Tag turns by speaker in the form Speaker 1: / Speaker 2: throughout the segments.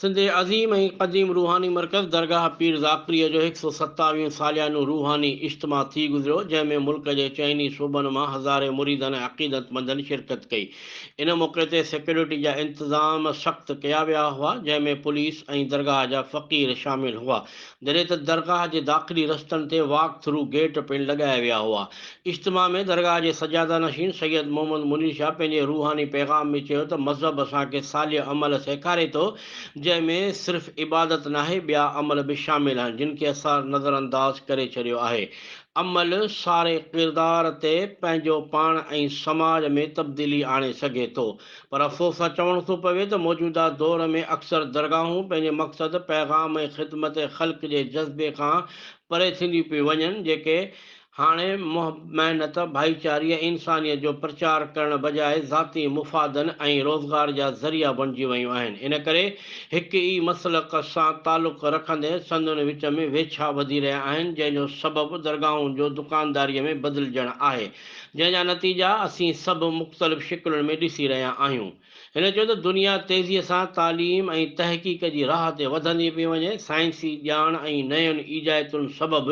Speaker 1: سنڌ جي عظيم ۽ قديم روحاني مرڪز درگاهه پير ذاڪريء جو هڪ سؤ ستاويهون ساليانو روحاني اجتماع ٿي گذريو، جنهن ۾ ملڪ جي چئن ئي صوبن مان هزارين مريدن ۽ عقيدتمندن شرڪت ڪئي. ان موقعي تي سيڪيورٽي جا انتظام سخت ڪيا ويا هئا، جنهن ۾ پوليس ۽ درگاهه جا فقير شامل هئا. جڏهن ته درگاهه جي داخلي رستن تي واڪ ٿرو گيٽ پڻ لڳايا ويا هئا. اجتماع ۾ درگاهه جي سجاده نشين سيد محمد منير شاهه پنهنجي روحاني پيغام ۾ چيو ته مذهب اسان کي صالح عمل سيکاري ٿو جنهن ۾ صرف عبادت ناهي ٻيا عمل به شامل آهن جن کي اسان نظرانداز ڪري ڇڏيو آهي عمل ساري ڪردار تي پنهنجو پاڻ ۽ سماج ۾ تبديلي آڻي سگهي ٿو. پر افسوس سان چوڻ ٿو پوي ته موجوده دور ۾ اڪثر درگاهون پنهنجي مقصد، پيغام ۽ خدمت خلق جي جذبي کان پري ٿينديون پيون وڃن، جيڪي هاڻي محب، محنت، ڀائيچاري ۽ انسانيت جو پرچار ڪرڻ بجاء ذاتي مفادن ۽ روزگار جا ذريعا بڻجي ويون آهن. ان ڪري هڪ ئي مسلڪ سان تعلق رکندي سندن وچ ۾ ويڇا وڌي رهيا آهن، جنهن جو سبب درگاهون جو دڪانداريء ۾ بدلجڻ آهي جنهن جا نتيجا اسين سڀ مختلف شڪلن ۾ ڏسي رهيا آهيون. هن چيو ته دنيا تيزي سان تعليم ۽ تحقيق جي راهه تي وڌندي پئي وڃي، سائنسي ڄاڻ ۽ نين ايجائتن سبب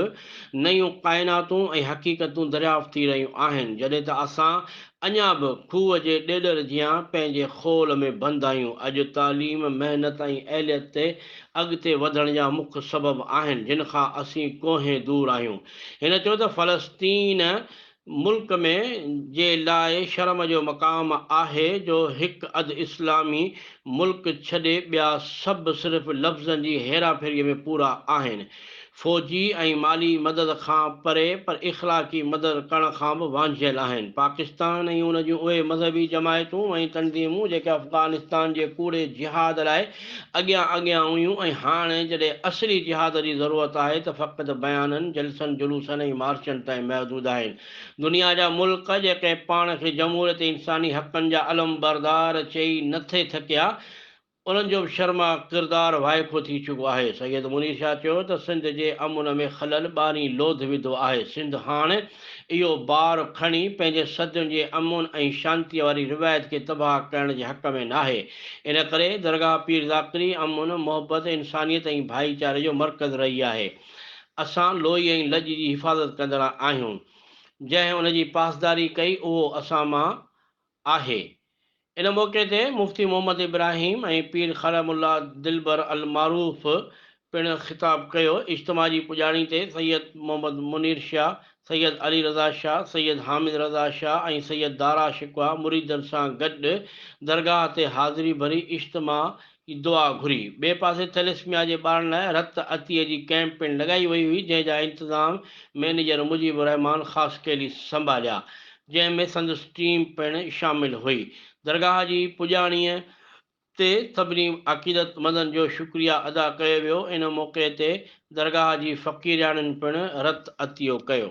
Speaker 1: نيون ڪائناتون ۽ حقيقتون دريافت ٿي رهيون آهن، جڏهن ته اسان اڃا به کوهه جي ڏيڏر جيان پنهنجي خول ۾ بند آهيون. اڄ تعليم، محنت ۽ اهليت تي اڳتي وڌڻ جا مک سبب آهن، جن کان اسين ڪوهين دور آهيون. هن چيو ته فلسطين ملڪ ۾ جي لاء شرم جو مقام آهي جو هڪ اڌ اسلامي ملڪ ڇڏي ٻيا سڀ صرف لفظن جي هيرا ڦيري ۾ پورا آهن فوجي ۽ مالي مدد کان پري پر اخلاقي مدد ڪرڻ کان به وانجهيل آهن پاڪستان ۽ ان جون اهي مذهبي جماعتون ۽ تنظيمون جيڪي افغانستان جي ڪوڙي جهاد لاء اڳيان اڳيان هيون ۽ هاڻي جڏهن اصلي جهاد جي ضرورت آهي ته فقط بيانن، جلسن، جلوسن ۽ مارچن تائين محدود آهن. دنيا جا ملڪ جيڪي پاڻ کي جمهوريت ۽ انساني حقن جا علمبردار چئي نه ٿي ٿڪيا، انهن جو به شرماء ڪردار وائکو ٿي چڪو آهي. سيد منير شاهه چيو ته سنڌ جي امن ۾ خلل ٻارهين لوڌ وڌو آهي، سنڌ هاڻ اهو بار کڻي پنهنجي صدين جي امن ۽ شانتيء واري روايت کي تباهه ڪرڻ جي حق ۾ ناهي. ان ڪري درگاهه پير ذاڪري امن، محبت، انسانيت ۽ ڀائيچاري جو مرڪز رهي آهي. اسان لوئي ۽ لڄ جي حفاظت ڪندڙا آهيون. جنهن ان جي پاسداري ڪئي اهو اسان مان آهي. ان موقعي تي مفتي محمد ابراهيم ۽ پير خرم الله دلبر المعروف پڻ خطاب ڪيو، اجتماع جي پڄاڻي تي سيد محمد منير شاهه، سيد علي رضا شاهه، سيد حامد رضا شاهه ۽ سيد دارا شڪوه مريدن سان گڏ درگاهه تي حاضري ڀري اجتماع جي دعا گهري، ٻئي پاسي ٿيليسميا جي ٻارن لاء رت عطيي جي ڪئمپ پڻ لڳائي وئي هئي جنهن جا انتظام مئنيجر مجيب الرحمان خاصخيلي سنڀاليا جنهن ۾ سندس ٽيم پڻ شامل هئي، درگاهه جي پڄاڻيء تي سڀني عقيدت مندن جو شڪريه ادا ڪيو ويو ان موقعي تي درگاهه جي فقيرياڻين پڻ رت عطيو ڪيو.